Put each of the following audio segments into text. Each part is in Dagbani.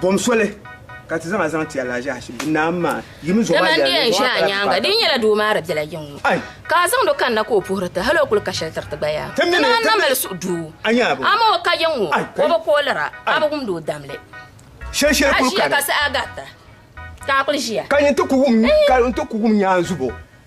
Bom soli ka ti zaŋ a zaŋ ti Alajashi naa maa yimi zuɣu maa yɛli ni zuɣu nyaanga din nyɛla doo maa di biɛla yiŋ ka a zaŋ do kanna ka o puhiri ti hali o kuli ka shɛli tiri ti gba yaa ti naan na mali suhu duu amaa o ka yiŋ ŋɔ o bi koolira a bi wumdi o damli shɛlshɛli kuli ka ka saha garita ka a kuli ʒiya ka nyin ti ku wum nyaanzubo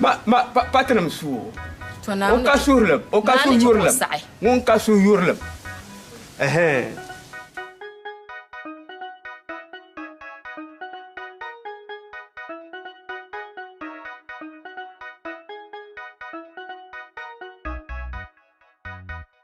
Ma pa tinim suhu o ka suhurlim, o ka suhuyurlim, ŋun ka suhuyurlim.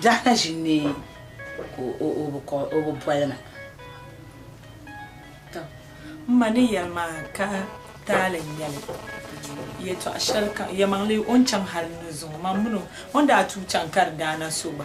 Biɛɣu na ʒi n-ni ka o bi kɔb, o bi boli ma. Tɔ! M ma ni yɛli ma ka taali n-nyɛ li. Yɛtɔɣ shɛlikam, yɛlimaŋli o ni chaŋ hal n-ni zuŋ o, mam mini o. O ni daa tuui chaŋ ka di daa na so gba.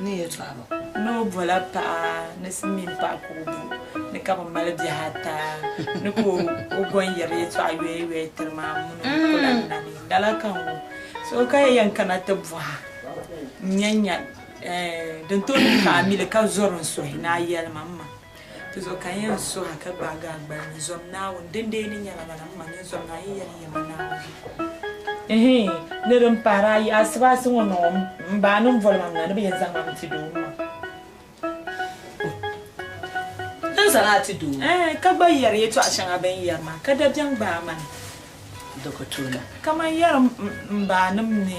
ni yɛtɔɣiba. Ni o bɔla paɣa ni Silimiin paɣa ka o bo ni ka bɛ mali bihi ata ni ka o bo n-yɛri yɛtɔɣa yɔyɔya tiri ma m-mini o kula ni na ni n dala ka n gu so ka yi yɛn kana ti bɔha n-nya nya din tooi niŋ ka a mi li ka zɔri n suhi ni a yɛli ma m ma. Ti zo ka n yɛn suh a ka gbaag a gbal ni, Zom Naawuni! Dindee ni nyɛla lala, m ma nyini zom ni a yi yɛli yɛma Naawuni. Ihiin! Ni di ni pahir ayi asibaasi ŋɔ ni ŋɔ, m ba a ni boli ma m na ni bɛ yɛn zaŋ ma n-ti doo ŋɔ. N zaŋ a ti doo ŋɔ? Ɛɛn! Ka gba yɛri yɛtɔɣ shɛŋa bɛ ni yɛri maa, ka dabiɛm gbaai ma ni. Dokotuna. Kaman yɛrim m baanim ni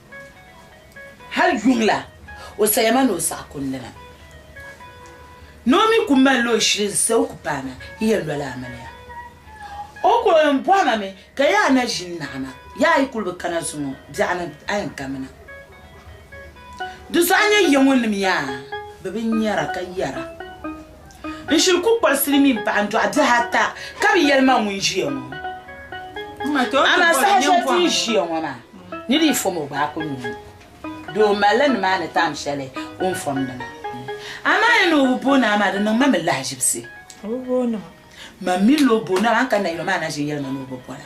Hal yuŋ la o saya ma ni o saɣi kundina, ni o mi ku mali la o shili n-sa o ku paana yi yɛn loli amiliya. O ku yɛn bɔhi ma mi ka yaa na ʒini naɣi ma, yaa yi kul bi kana zuŋɔ biɛɣu ni a yɛn kamina. Di zuɣu a nya yiɛŋɔnim yaa? Bɛ bi nyara ka yɛra. N shiri ku kpari silimiin paɣa n dɔɣi bihi ata ka bi yɛli ma ŋun ʒiya ŋɔ. Amaa saha shɛli ti ni ʒiya ŋɔ maa, ni di yi fom o gbaai ku nyu. Doo n malila nimaani taam shɛli o ni fomdi maa. Amaa ya ni o bi bo naa maa, di niŋ ma mi lahaʒibisi. Mam mi lo bo naa maa n kani na yuli maa na ʒiya yɛli ma ni o bi bola.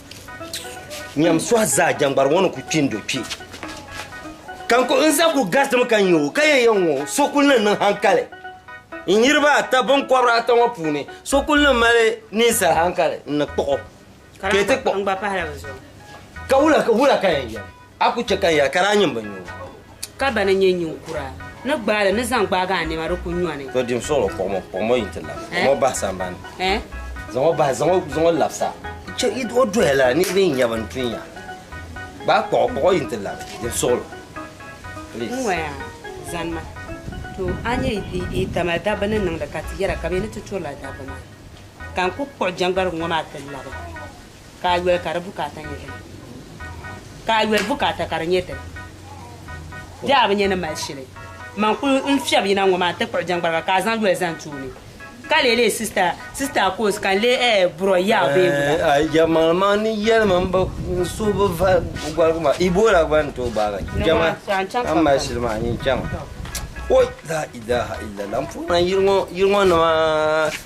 nyam suha zaa jɛŋgbari ŋɔ ni ku kpi n-do kpi ka n ku n zaa ku garitimi ka nya o ka yɛn yɛn ŋɔ so kuli ni niŋ hankali n niriba ata binkɔbiri ata ŋɔ puuni so kuli ni mali ninsal hankali n ni kpuɣ o ka yɛn ti kpuɣ ka wula ka yɛn yɛli A ku chɛ ka n ya ka daa nyin bi nyu. Ka bana nyɛ ninkura ni gbaai li ni zaŋ gbaagi a nɛma di ku nyɔni. To dim suɣulo kpuɣim o, kpuɣim o yi nti lab. Zaŋ o bahi sambani. Zaŋ o bahi, zaŋ o lab sa. Chɛ yi o doya lala niriba yi nya bɛ ni tu n-nya. Gbaai kpuɣ o, kpuɣ o yi nti lab. Dim suɣulo. Please. N waya, zani ma. To a nyɛ yi tamali dabba ni niŋdi ka ti yɛra ka bɛ ni ti turila dabba maa. Ka n ku kpuɣ jɛŋgbarigu ŋɔ maa ti labi. ka a yoli ka di bukaata nyɛ din ka a yoli bukaata ka di nyɛ din di a bi nyɛ ni mali shili man kuli n fiɛbi yina ŋɔ maa n ti kpuɣi jɛŋgbariba ka a zaŋ yoli zaŋ tooni ka lee lee sista sista koos ka n lee ɛɛ burɔ ya o bee wula a jɛmmal man ni yɛlimi n bi n so bi va gɔrigi maa ibola gba n tooi gbaagi jɛma a mali shili maa nyin chaŋ oi la ilaha illallah n puhi na yiri ŋɔ yiri ŋɔ nima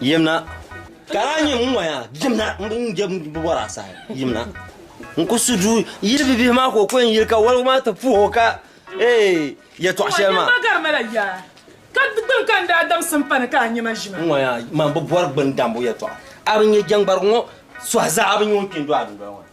Yimna. Ka daa nyɛ ŋun waya yimna n bi bɔra saha yimna n ku su du yili bibihi maa ka o kɔn yili ka waligu maa ti puhi o ka ee yɛtɔɣ shɛli maa. Nyɛma garima la yaa ka gbini ka n daa damsi m pani ka a nyɛma ʒima. N waya man bi bɔri gbini dambu yɛtɔɣa a bi nyɛ jɛŋgbarigu ŋɔ suhi zaa a bi nyɛ ŋun kpi n-do a dundoli ŋɔ ni.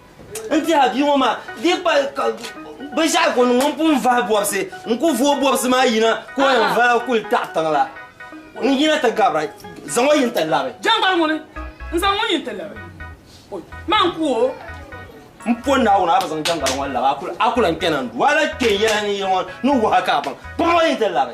N tiɛha bia ŋɔ maa di kpa binshaɣu ko ŋun pun vahi bɔbisi n ku vooi bɔbisi maa yina ka o yɛn vaai kuli taɣi tiŋ la n yina ti gabira zaŋ o yin ti labi jɛŋgbal ŋuni n zaŋ ŋun yin ti labi o maa n ku o m po Naawuni a bi zaŋ jɛŋgbal ŋɔ labi a ku lan kpɛna n du a la kpɛ yɛla ni yili ŋɔ ni wahi ka a baŋ pam o yin ti labi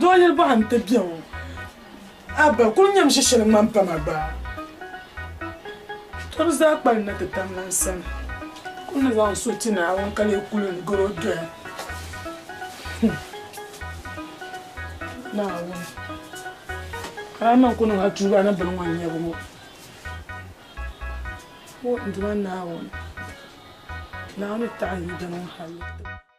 Doo yili bɔɣa n ti bɛ ŋɔ abba kuli nyɛm ʒe shɛli ŋmani pam a gbaai to bi zaa kpalim na ti tam lan sani kuli ni zaŋ so ti Naawuni ka lee kuli ni garo doya Naawuni Rahman ku niŋ a tuuba ni bini ŋɔ nyɛbu ŋɔ o n duma Naawuni Naawuni taɣi n yi dini ŋɔ hali.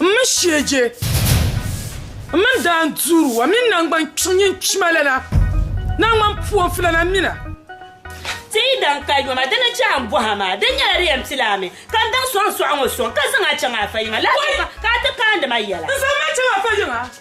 M mini shieje m mini daan duuru wa mini naŋgban kpiŋ nyin kpima lana naŋgban puɔnfu lana mina. Ti yi daŋ ka yoma di ni chɛ a ni bɔh a maa, di nyɛla di yɛn pila a mi ka n daŋ sɔŋ sɔɣ ŋɔ sɔŋ ka zaŋ a chaŋ a fa yiŋa lahi zuɣu ka a ti kaandi ma yɛla. N zaŋ ma chaŋ a fa yiŋa.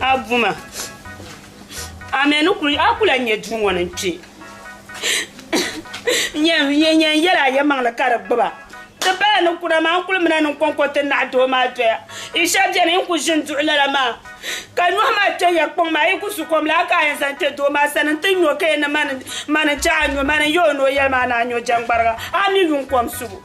A buma, a mɛ ni kuli, a kula nyɛ duu ŋɔ ni n kpi. N yɛn yɛli a yɛmaŋli ka di gbuba. Ti bala ni kuna maa n kuli mina ni n kɔŋko ti naɣi doo maa doya. Yi shɛba beni yi kuli ʒini duɣi lala maa ka nyɔhi maa kpe ya kpaŋ maa yi ku su kom laa ka a yɛn zaŋ kpe doo maa sani n ti nyo ka yɛn ni mani n-chaŋ a nyo mani n yɛ o ni o yɛli maa ni a nyo jɛŋgbariga a mi yuŋ kom subu.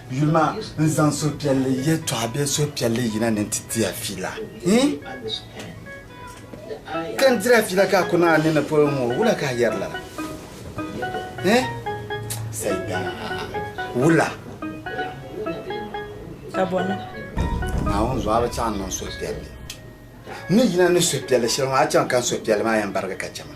Yuli ma n zaŋ suhupiɛlli yɛtɔɣa bee suhupiɛlli yina ni nti ti a fiila. Ka n tiri a fiila ka a kuni a nini polo ŋɔ, wula ka a yɛri lala? Saidan, wula? Ka bɔna. Naawuni zuɣu a bi chaŋ niŋ suhupiɛlli. N ni yina ni suhupiɛlli shɛli ŋɔ, a chaŋ ka n suhupiɛlli maa yɛn barigi ka chɛ ma.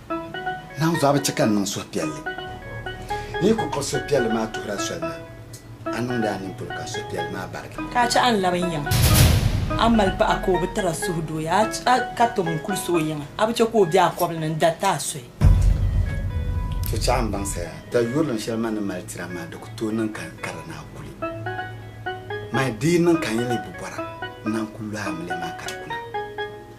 Naa zuɣu a bi chɛ ka n niŋ suhupiɛlli. N yi ku kpuɣi suhupiɛlli maa tuhir a soli maa, a niŋdi a nini polo ka suhupiɛlli maa barigi. Ka a chɛ a ni lab n yiŋa. A mali paɣa ka o bi tira suhudooya, a ka tom n kulisi o yiŋa. A bi chɛ ka o be a kɔbili ni n-dariti a soli. Ti chɛ a ni baŋsiri a dayurilim shɛli ma ni mali tiri a maa di ku tooi niŋ ka n kari ni a kuli ma. Di yi niŋ ka n yi leei bubɔra n-na n-ku lɔhi a milɛma ka di kuna.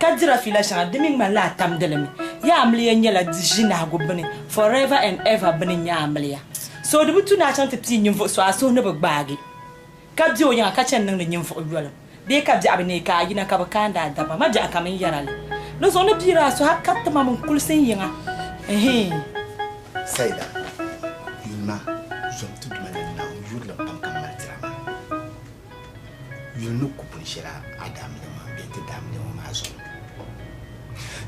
Ka dira fiila shɛŋa di mi ŋmanila a tamdi li mi. Yi amiliya nyɛla di ʒinahigu bini, forever and ever bini n-nyɛ amiliya. So di bi tu ni a chaŋ ti pii ninvuɣ so a suhu ni bi gbaagi, ka be o yiŋa ka chani niŋdi ninvuɣ yoliŋ, bee ka biɛɣu bi neei ka a yina ka bi kaandi a daba ma biɛɣu ka mini yɛra li. Di zuɣu n ni piiri a suhu a ka ti ma min kulisi n yiŋa. Ɛhii. Saida, Yi ma zom ti duma ni Naawuni yurilim pam ka m mali dira maa. Yuli ni ku pun shɛla Adam ni ma bɛ ti daa mili ŋɔ maa zuɣu.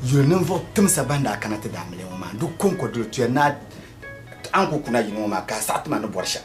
Yuli ninvuɣ timsa bɛn daa kana ti daa mili ŋɔ maa, di kɔŋko doli tuya ni a ti a ni ku ku na yini ŋɔ maa ka a saɣi ti ma ni bɔri shɛm.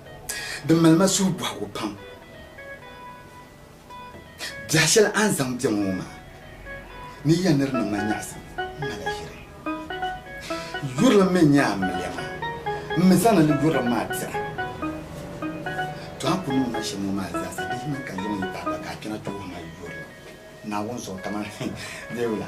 Di mali ma suhu bɔhigu pam. Biɛhi shɛli a ni zaŋ bɛ ma ŋɔ maa ni ya ni di niŋ ma nyaɣisim m ma la ʒiri. Yurilim mi n-nyɛ a ni mi li ya maa. M mi zaŋ ni li yurilim maa dira. Tɔ a ni kul niŋ ma shɛm ŋɔ maa zaasa di yi mi ka yiŋ yi paɣiba ka a kpɛna ti wuhi ma yurilim Naawuni zuɣu kaman Dewula.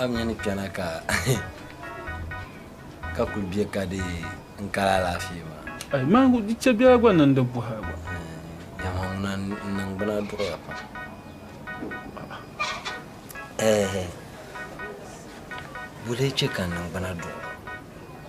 A mi ni kpɛna ka ka kuli bɛ ka di n kali alaafee maa. Ayi maa di chɛ biɛla gba niŋ di buhi gba. Nyama ŋuna n niŋ bina duɣura pam. Ɛɛhɛ. Buli chɛ ka n niŋ bina duɣura.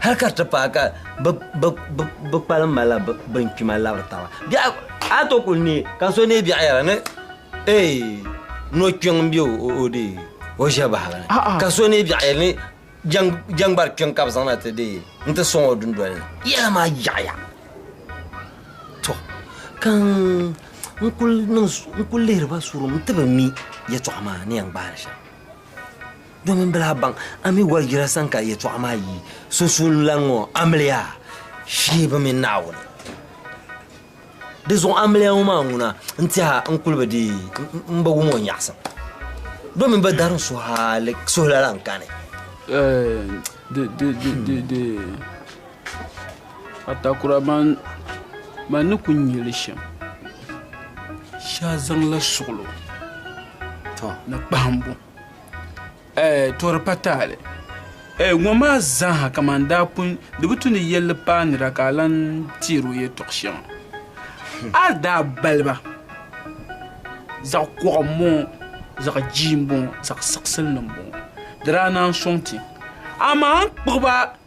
Hali ka di ti paai ka bɛ kpalim malila binkpima labiri taba, a ni tooi kuli neei ka so neei biɛɣu yɛra ni eei nokpiɔŋ m-be o dee o ʒiɛbahigu ni, ka so neei biɛɣu yɛli ni jɛŋgbari kpiɔŋ ka bɛ zaŋ na ti dee nti sɔŋ o dundoli ni. Yɛla maa yaɣiya. Tɔ! Ka n kuli lihiri ba surum nti bi mi yɛtɔɣa maa ni yɛn gbaai li shɛm. Domin bɛ lahi baŋ a mi gɔri jira sani ka yɛtɔɣa maa yi sunsuunilan ŋɔ amiliya shee bi mini Naawuni. Di zuɣu amiliya ŋɔ maa ŋuna n-tɛha n-kuli bi di m-bi wum o nyaɣisim, domin bɛ darin suhila lan kani. Dee, atakura man ni ku nya li shɛm, shee a zaŋla suɣulo ni kpahimbu. Tɔri pa taali ŋɔ maa zaaha kamani daa pun di bi tu ni yɛlli paai nira ka a lan teeri o yɛtɔɣ shɛŋa a ni daa baliba zaɣ kɔɣu m-bɔŋɔ zaɣ jia m-bɔŋɔ zaɣ siɣisili ni m-bɔŋɔ di daa naan sɔŋ ti amaa a ni kpuɣi ba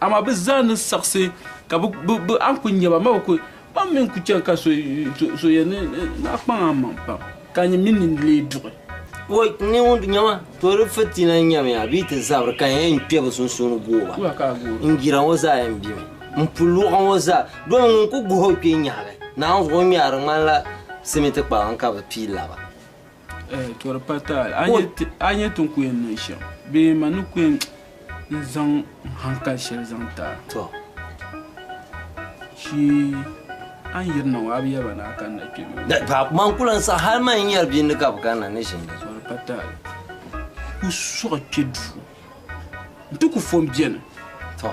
Amaa bɛ zaa ni saɣisi ka bɛ a ni kul nya ba, ma bi kul, ma mi n-kul chani ka so yɛn ni, Naa kpaŋ a maŋ pam, ka nyin mi nini leei duɣi. O ni ŋun nya ma, to di fitina n-nyamiya bee ti zabiri ka yɛn kpe bɛ sunsuuni gooi ba. N jira ŋɔ zaa yɛn bemi, m puluɣu ŋɔ zaa, doli ŋun kul guhi o kpee nyahi li, naanzuɣu ŋmɛri ŋmanila simiti kpalaŋ ka bɛ pii laba. Eh, to di pa taali. A nya ti- a nya ti n ku yɛn niŋ shɛm bee man ni ku yɛn n zaŋ n hankali shɛli zaŋ ti a. To. Shi a ni yirina ŋɔ a bi yaba ni a kanna kpe bee? Da- pa- Man ku lan sa hali man yɛri bindi ka bi kanna ni ʒini. To di pa taali. Ku sɔɣi kpe duu. N ti ku fo m beni. To.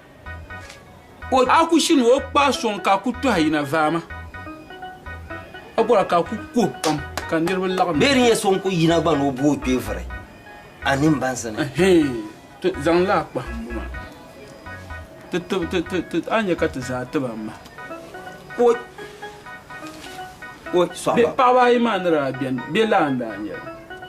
O a ku shi ni o kpaai sɔŋ ka a ku tɔhi yina vaama, a bɔra ka a ku kuhi pam ka niriba laɣim. Bee di nyɛ so n-ku yina gba ni o booi kpee vuri a nini bansi ni? Ɛhɛɛn, ti zaŋ la a kpahimbu maa ti tib ti, ti, ti, a ni nya ka ti zaa tib a maha. O, o, sɔhimba. Bee paɣaba ayi maa ni daa beni, bɛ lan daa nyɛla?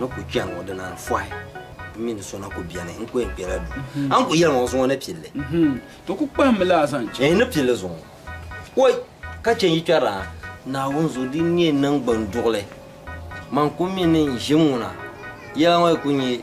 N ku chɛni ŋɔ di naan fɔhi m mini so na ku bɛni n ku yɛn kpɛla duu a ni ku yɛli ŋɔ zuŋɔ ni pilli. To ku kpahimmi laa zaŋ chaŋ. N ni pilli zuŋɔ oi ka chɛ n yi kpɛri a Naawuni zuɣu din nyɛ niŋgbuŋ duɣili man ku mi ni n ʒim ŋuna yɛla ŋɔ yi ku nyɛ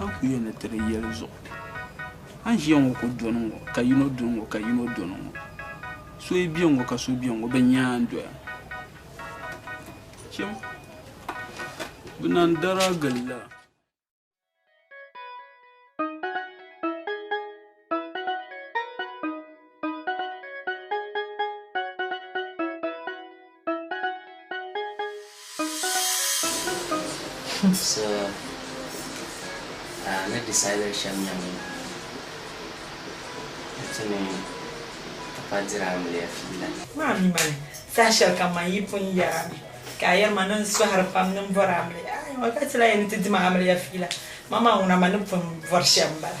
A ni ku yɛn ni ti di yɛli zuɣu. A ni ʒiya ŋɔ ku dɔni ŋɔ ka yino dɔni ŋɔ ka yino dɔni ŋɔ. So yi bɛ ŋɔ ka so bɛ ŋɔ bɛ nyaa n-doya. Chim bɛ naan dara gilila. So uh, ni decided shɛm nyɛ ŋun ti ni ti pa dira amiliya fiila. Maa mi mali saha shɛli kam man yi pun yɛri a mi ka a yɛri ma ni n sɔhiri pam ni n bɔri amiliya. Aywa ka ti lahi yɛn ni ti dima amiliya fiila. Man maa ŋuna man ni pun bɔri shɛm m-bala.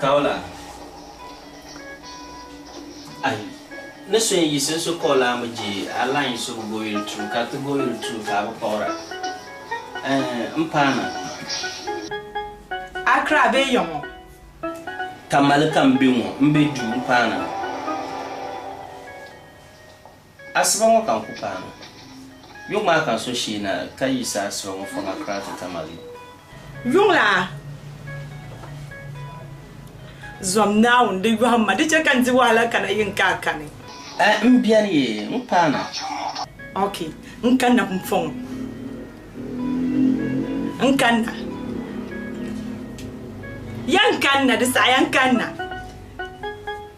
Kaula, Ayi, ni so n yiɣisi n so kaula mi je Allah n yiɣisi o goyuli tum ka ti goyuli tum ka a bi kpuɣira ɛɛh m paana. Accra bee yaŋɔ? Tamale ka m be ŋɔ, m be duu m paana. Asiba ŋɔ ka n ku paanu. Yuŋ maa ka n so shee na ka yi sa asiba ŋɔ fɔŋ Accra ti Tamale. Yuŋ la zom Naawuni di yɔhim ma, di chɛ ka n di wahala kana yi n ka a kani. A n beni ye, n paanu. Ok, n kanna pun fɔŋ o. N kanna. Yan kanna, di saha yan kanna.